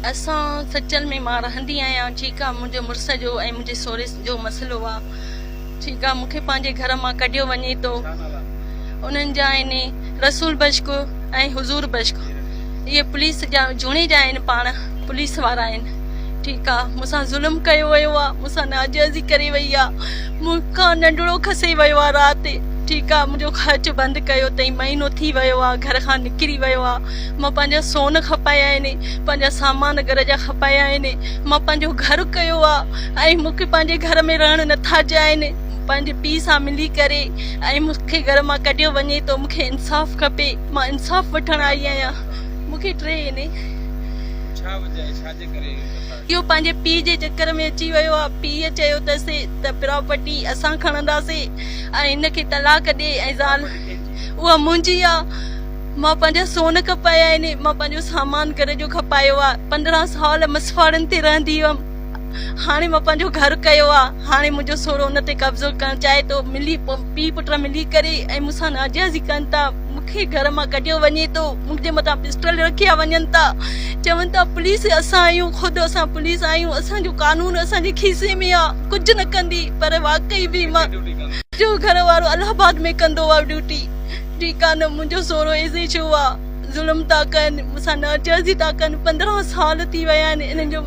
اسان سچل ۾ مان رهندي آهيان چيڪا منهنجي مڙس جو ۽ منهنجي سوري جو مسئلو آ چيڪا مون کي پنهنجي گهر مان ڪڍيو وڃي تو انهن جا آهن رسول بشڪ ۽ حضور بشڪ اهي پوليس جا جهوني جا آهن پاڻ پوليس وارا آهن ٺيڪ آ مون سان ظلم ڪيو ويو آ مون سان ناجائزي ڪري وئي آ مون کان ننڍڙو کسي ويو آ رات ٺيڪ آ منهنجو خرچ بند ڪيو تئين مهينو ٿي ويو آ گهر کان نڪري ويو آ مان پنهنجا سون کپايا آهن، پنهنجا سامان گهر جا کپايا آهن، مان پنهنجو گهر ڪيو آ ۽ مون کي پنهنجي گهر ۾ رهڻ نه ٿا ڏين، پنهنجي پيء سان ملي ڪري ۽ مون کي گهر مان ڪڍيو وڃي ٿو، مون کي انصاف کپي، مان انصاف وٺڻ آئي آهيان، مون کي ٽي آهن. اهو پنهنجي پيء جي چڪر ۾ اچي ويو آ، پيء چيو اٿس ته پراپرٽي اسان کڻنداسين ۽ هن کي طلاق ڏي ۽ زال اها منهنجي آ، مان پنهنجا سون کپايا آهن، مان پنهنجو سامان گهر جو کپايو آهي، پندرهن سال مسواڙن تي رهندي هيم، هاڻي مان پنهنجو گهر ڪيو آهي، هاڻي منهنجو سهرو ان تي قبضو ڪرڻ چاهي ٿو، ملي پيء پٽ ملي ڪري ۽ مون سان ناجائزي ڪن ٿا، مون کي گهر مان ڪڍيو وڃي ٿو، مون جي مٿان پسٽل رکيا وڃن ٿا، چون ٿا پوليس اسان آهيون، خود اسان پوليس آهيون، اسان جو قانون اسان جي کيسي ۾ آهي، ڪجهه نه ڪندي، پر واقعي به مان جو گهر وارو الهه آباد ۾ ڪندو هو ڊيوٽي. ٺيڪ آ نه منهنجو سورو ايسي ڇو آ ظلم ٿا ڪن مون سان ناجائزي ٿا ڪن پندرهن سال ٿي ويا آهن انهن جو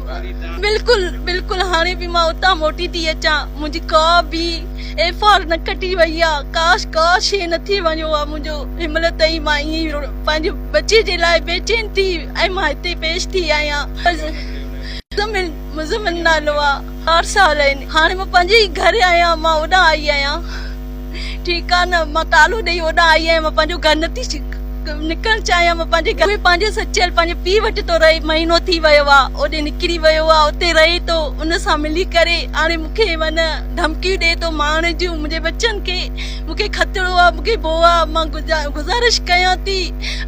بلڪل بلڪل هاڻي به مان اتان موٽي ٿي اچان منهنجي ڪا به ايف آر نه ڪٽي وئي آ ڪاش ڪا شي نه ٿي وڃو آ منهنجو هنمهل تائين مان ائين ئي پنهنجي بچي جي لاء بيچين ٿي ۽ مان هتي پيش ٿي آهيان مزمل مزمل نالو آ چار سال آهن هاڻي مان پنهنجي ئي گهر آهيان مان اوڏان آئي آهيان. ٺيڪ آ نه مان ڪالهو ڏئي اوڏانهن آئي آهيان مان پنهنجو گهر نه ٿي نڪرڻ چاهيان مان پنهنجي گهر ۾ پنهنجي سچيل پنهنجي پيء وٽ ٿو رهي مهينو ٿي ويو آ اوڏي نڪري ويو آ اتي رهي ٿو ان سان ملي ڪري هاڻي مون کي ون ڌمڪيون ڏي ٿو ماڻهن جون منهنجي ٻچن کي مون کي خطرو آ مون کي ڀو آ مان گذارش ڪيان ٿي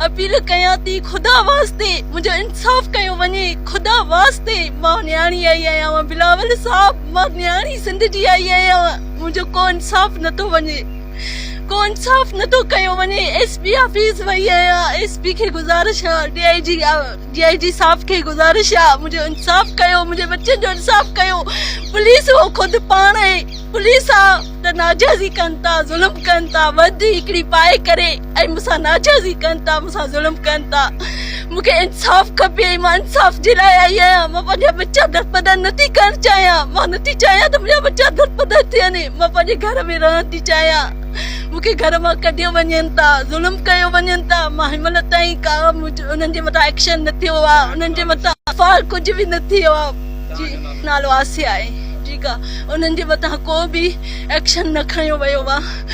اپيل ڪيان ٿي خدا واسطي منهنجو انصاف ڪيو وڃي خدا واسطي مان نياڻي آئي آهيان بلاول صاحب مان نياڻي سنڌ جي آئي آهيان منهنجو ڪو انصاف نٿو وڃي ڪو انصاف نٿو ڪيو وڃي ايس پي آفيس وئي آهيان ايس پي کي گذارش آ ڊي آئي جي آ ڊي آئي جي صاحب کي گذارش آ منهنجو انصاف ڪيو منهنجي ٻچن جو انصاف ڪيو پوليس هو خود پاڻ پوليس آ ته ناجائزي ڪن ٿا ظلم ڪن ٿا وڌ هڪڙي پائي ڪري ۽ مون سان ناجائزي ڪن ٿا مون سان ظلم ڪن ٿا مون کي انصاف کپي ۽ مان انصاف جي لاء آئي آهيان مان پنهنجا ٻچا درپدر نه ٿي ڪرڻ چاهيان مان نه ٿي چاهيان ته منهنجا ٻچا درپدر ٿين مان پنهنجي گهر ۾ رهڻ ٿي چاهيان مون کي گهر مان ڪڍيو وڃن ٿا ظلم ڪيو وڃن ٿا مان هن مهل تائين ڪا انهن جي مٿان ايڪشن نه ٿيو آهي انهن جي مٿان ايف آء آر ڪجهه به نه ٿيو آهي جي نالو آسيا آهي جيڪا انهن جي مٿان ڪو به ايڪشن نه کنيو ويو آهي